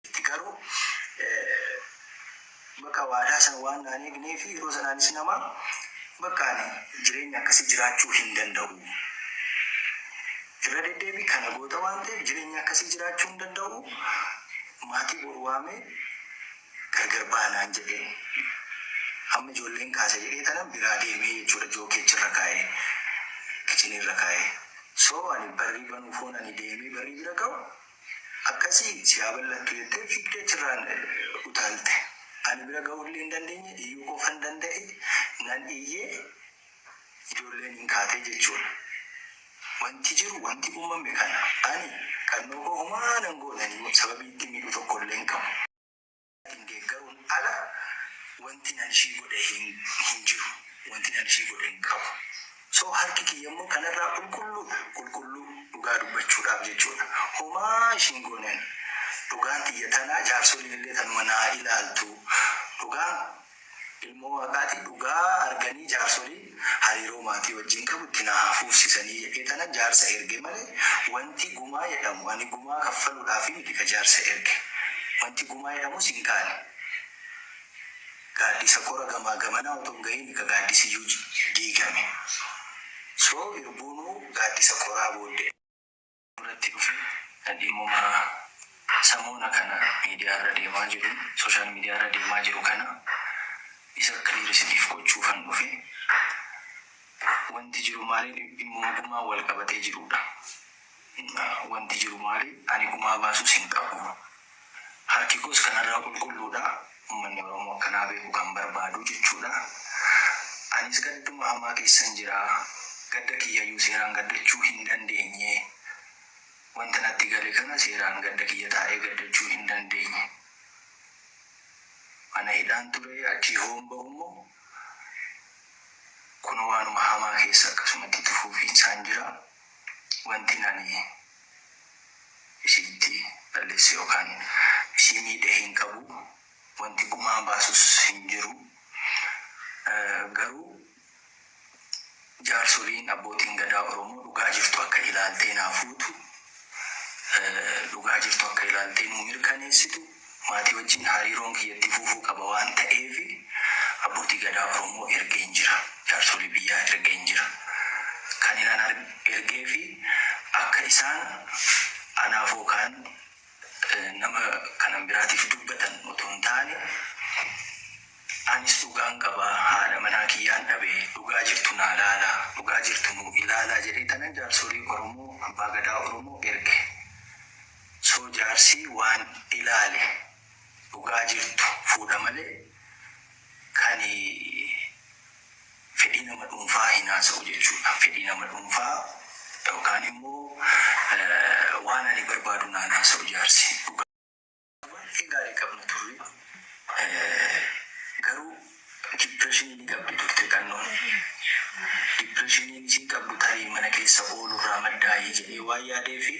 itti garuu bakka waadaa sana waan naan eegnee fi yeroo sanaanis nama bakka ani jireenya akkasii jiraachuu hin danda'u. Irra deddeebii kana goota waan ta'eef jireenya akkasii jiraachuu hin danda'u. Maatii boru waamee gargar baanaan jedhee amma ijoolleen kaasa jedhee tanan biraa deemee jechuudha jookeechi irra kaa'ee kichinii irra kaa'ee. So ani barrii banuuf hoon ani deemee barrii bira ga'u Akkasii si haa bal'attu jettee fiigdee achirraan utaalte. Ani bira ga'uu illee hin dandeenye, iyyuu qofan danda'e. Nan iyye, ijoolleen in kaate jechuudha. Wanti jiru, wanti uumame kana. Ani kannoo koo homaa nan goone, ani sababii ittiin miidhu tokko illee hin qabu. Ittiin deeggaruun ala wantin an ishii godhe hin jiru. Wantin an ishii godhe hin qabu. So harki kiyya immoo kanarraa qulqulluudha. Qulqulluu dhugaa dubbachuudhaaf jechuudha. Homaa ishii hin goone ani. Dhugaan tiyya tana jaarsoliin illee tanuma naa ilaaltu. Dhugaan Ilmoo Waaqaati dhugaa arganii jaarsoliin hariiroo maatii wajjin qabu itti naa haa fuufsisanii jedhee tanan jaarsa erge male wanti gumaa jedhamu ani gumaa kaffaludhaafi miti ka jaarsa erge wanti gumaa jedhamus hin kaane gaaddisa kora gamaa gamanaa otoo hin gahiini ka gaaddisiyyuu diigame so irbuunuu gaaddisa koraa booddee irratti dhufe dhimmuma samoona kana miidiyaa irra deemaa jiru social media irra deemaa jiru kana isa clear isiniif gochuufan dhufe wanti jiru maali dhimmuma gumaa wal qabatee jiruudha wanti jiru maali ani gumaa baasus hin qabu Haati koos kanarraa qulqulluudha. Ummanni Oromoo akka naa beeku kan barbaadu jechuudha. Anis gadduma hamaa keessan jira. Gadda kiyyayyuu seeraan gaddachuu hin dandeenye. Wanta natti gale kana seeraan gadda kiyya taa'ee gaddachuu hin dandeenye. Mana hidhaan ture, achii hoon bahummoo kunoo waanuma hamaa keessa akkasumatti itti fuufiinsaan jira. Wantin ani isinitti balleesse yookaan isii miidhe hin qabu, wanti gumaa baasus hin jiru. Garuu jaarsoliin, abbootiin Gadaa Oromoo dhugaa jirtu akka ilaaltee naa fuutu, dhugaa jirtu akka ilaaltee nuu mirkaneessitu, Maatii wajjin hariiroon kiyya itti fufuu qaba waan ta'eef Abbootii Gadaa Oromoo ergeen jira. Jaarsolii biyyaa ergeen jira. Kanin an ergeef akka isaan anaaf yookaan nama kanan biraatiif dubbatan otoo hin taane anis dhugaan qaba, haadha manaa kiyyaan dhabe, dhugaa jirtu naa laalaa, dhugaa jirtu nuu ilaalaa jedheetanan jaarsolii Oromoo, Abbaa Gadaa Oromoo erge. So jaarsii waan ilaale dhugaa jirtu fuudha malee kani fedhii nama dhuunfaa hin haasa'u jechuudha fedhii nama dhuunfaa yookaan immoo waan ani barbaadu naan haasa'u jaarsi dhugaa. Baay'ee gaarii qabna turre garuu. Dipireeshinii ni qabdi Dr. Qannoon. Dipireeshiniin isiin qabdu tarii mana keessa oolu irraa maddaayi jedhee waan yaadeefi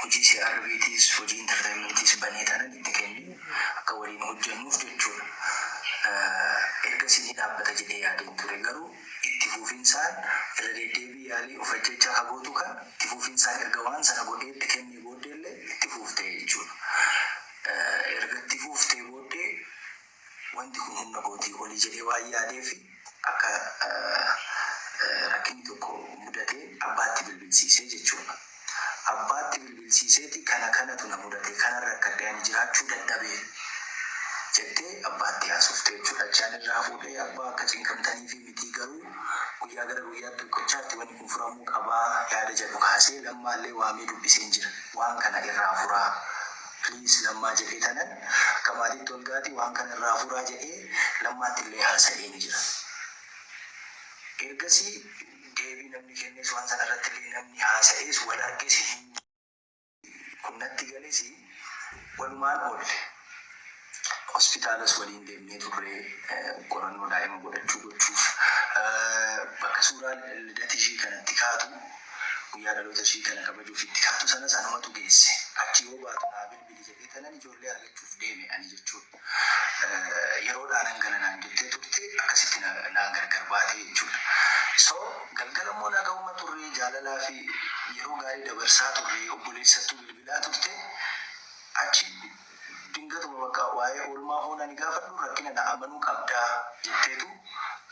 hojii CRB tiis, hojii entertainment tiis banee tanan itti kenne akka waliin hojjannuuf jechuudha. Ergasii ni dhaabbata jedhee yaadeen ture. Garuu itti fuufinsaan irra deddeebii yaalii of ajjeechaa ka gootu kan itti fuufinsaan erga waan sana godhee itti kennee booddeellee itti fuufte jechuudha. Erga itti fuuftee booddee. Wanti kun humna kootii oli jedhee waan yaadeef akka rakkinni tokko mudatee abbaatti bilbilsiise jechuudha. Abbaatti bilbilsiiseeti kana kanatu na mudate kanan rakkadhe ani jiraachuu dadhabe jettee abbaatti haasofte jechuudha. Achi ani irraa fuudhee abbaa akka cinqamtaniifi. mitii garuu guyyaa gara guyyaatti tokkochaatti wanni kun furamuu qabaa yaada jedhu kaasee lammaallee waamee dubbiseen jira waan kana irraa furaa please lammaa jedhee tanan akka maatiitti olgaati waan kana irraa furaa jedhee lammaattillee haasa'een jira ergasii deebii namni kennees waan sana irrattillee namni haasa'ees wal arges hin Kun natti gales walumaan oolle. Hospitaalas waliin deemnee turre qorannoo daa'ima godhachuu gochuuf. Bakka suuraa lidata ishii kana itti kaatu, guyyaa dhaloota ishii kana kabajuuf itti kaatu sanas anumatu geesse. Achi yoo baatu naa bilbili jedhee tanan ijoollee argachuuf deeme ani jechuudha. yeroodhaa nan gala naan jettee turte akkasitti na naa gargar baate jechuudha. So galgala immoo nagahuma turre jaalalaa fi yeroo gaarii dabarsaa turre obboleessattuu bilbilaa turte achi dingatuma bakka waa'ee oolmaa hoo nani gaafadhu rakkina na amanuu qabdaa jetteetu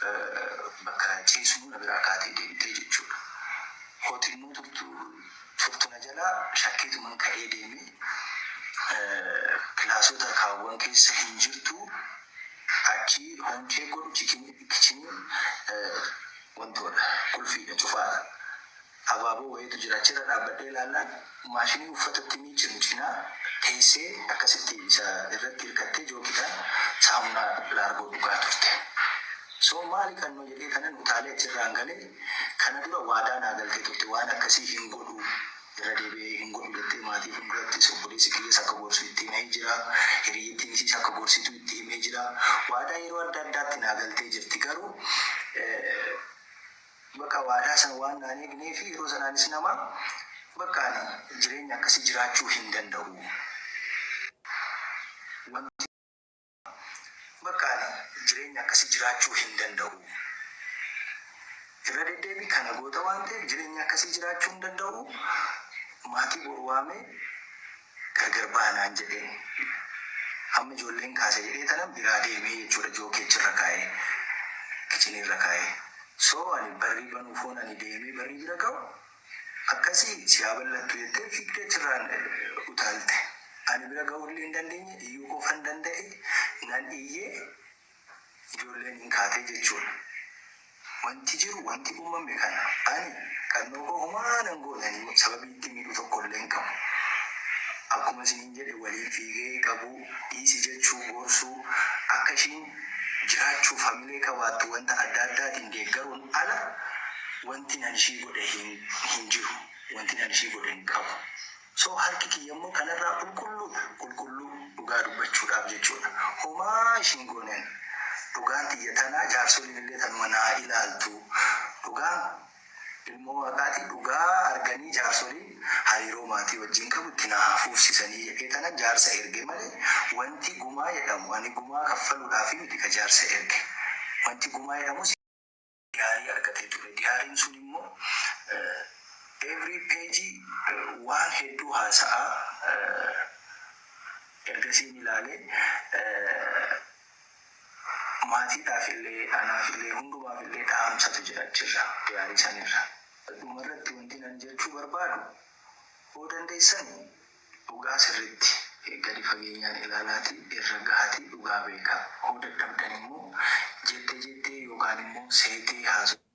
eh, bakka ciisnu na biraa kaatee deemtee jechuudha. Hooti immoo turtu Furtu na jalaa shakkeetuman ka'ee deeme. Kilaasota kaawwan keessa hin jirtu. Achii home check godhu kichiniin wantoodha. Qulfiidha. Cufaadha. Abaaboo wayiitu jira. Achirra dhaabbadhee ilaallaan maashinii uffata itti miiccan cinaa teessee akkasitti isa irratti hirkattee jookiidhaan saamunaa laargoo dhugaa turte. So maali kanno jedhee kanan utaalee achirraan gale. Kana dura waadaa naa galtee turte waan akkasii hin godhu irra deebi'ee hin godhu jettee maatii fundurattis obboleessi kiyyas akka gorsu itti himee jira hiriyyattiin isiis akka gorsitu itti himee jira waadaa yeroo adda addaatti naa galtee jirti garuu bakka waadaa sana waan naan eegneefi yeroo sanaanis nama bakka ani jireenya akkasii jiraachuu hin danda'u wanti Bakka ani jireenya akkasii jiraachuu hin danda'u. Irra deddeebii kana goota waan ta'eef jireenya akkasii jiraachuu hin danda'u. Maatii boru waamee gargar baha naan jedhee amma ijoolleen kaasa jedhee tanan biraa deemee jechuudha jookee achirra kaa'ee kichinii irra kaa'ee. So ani barrii banuuf hoon ani deemee barrii bira ga'u Akkasii si haa bal'attu jettee fiigdee achirraan utaalte. Ani bira ga'uu illee hin dandeenye, iyyuu qofan danda'e. Nan iyye, ijoolleen in kaate jechuudha. Wanti jiru, wanti uumame kana. Ani kannoo koo homaa nan goone, ani sababii itti miidhu tokko illee hin qabu. Akkuma isiniin jedhe waliin fiigee qabuu. dhiisi jechuun gorsuu, akka ishiin jiraachuuf hamilee qabaattu wanta adda addaatiin deeggaruun ala wantin an ishii godhe hin jiru, wantin an ishii godhe hin qabu. So harki kiyya immoo kanarraa qulqulluudha, qulqulluu, dhugaa dubbachuudhaaf jechuudha. Homaa ishii hin goone ani. Dhugaan tiyya tana, jaarsoliin illee tanuma naa ilaaltu. Dhugaan. Ilmoo Waaqaati dhugaa arganii jaarsoliin hariiroo maatii wajjiin qabu itti naa haa fuufsisanii jedhee tanan jaarsa erge malee wanti gumaa jedhamu ani gumaa kaffaluudhaafi miti ka jaarsa erge wanti gumaa jedhamu si diyaarii argatee ture diyaariin sun immoo every page waan hedduu haasa'aa ergasiin ilaalee Maatiidhaafillee, anaafillee, hundumaafillee dhaamsatu jira achirra, diyaarii sanirra. Dhumarratti wantin ani jechuu barbaadu, hoo dandeessanii dhugaa sirriitti gadi fageenyaan ilaalaatii irra gahaatii dhugaa beekaa. Hoo dadhabdanimmoo jette jettee yookaanimmoo seetee haasofsiisaa.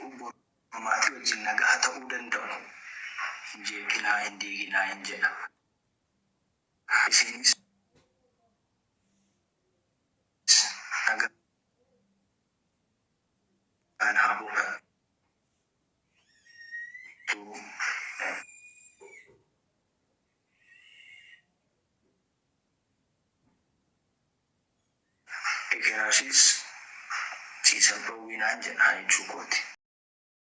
Obbo maatii wajjin nagaa ta'uu danda'u hin jeeqinaa hin diiginaa hin jedha. Isiinis nagaan haa boqattuu Ekeraa ishees sii sabbawwii naan jedhaa jechuu kooti.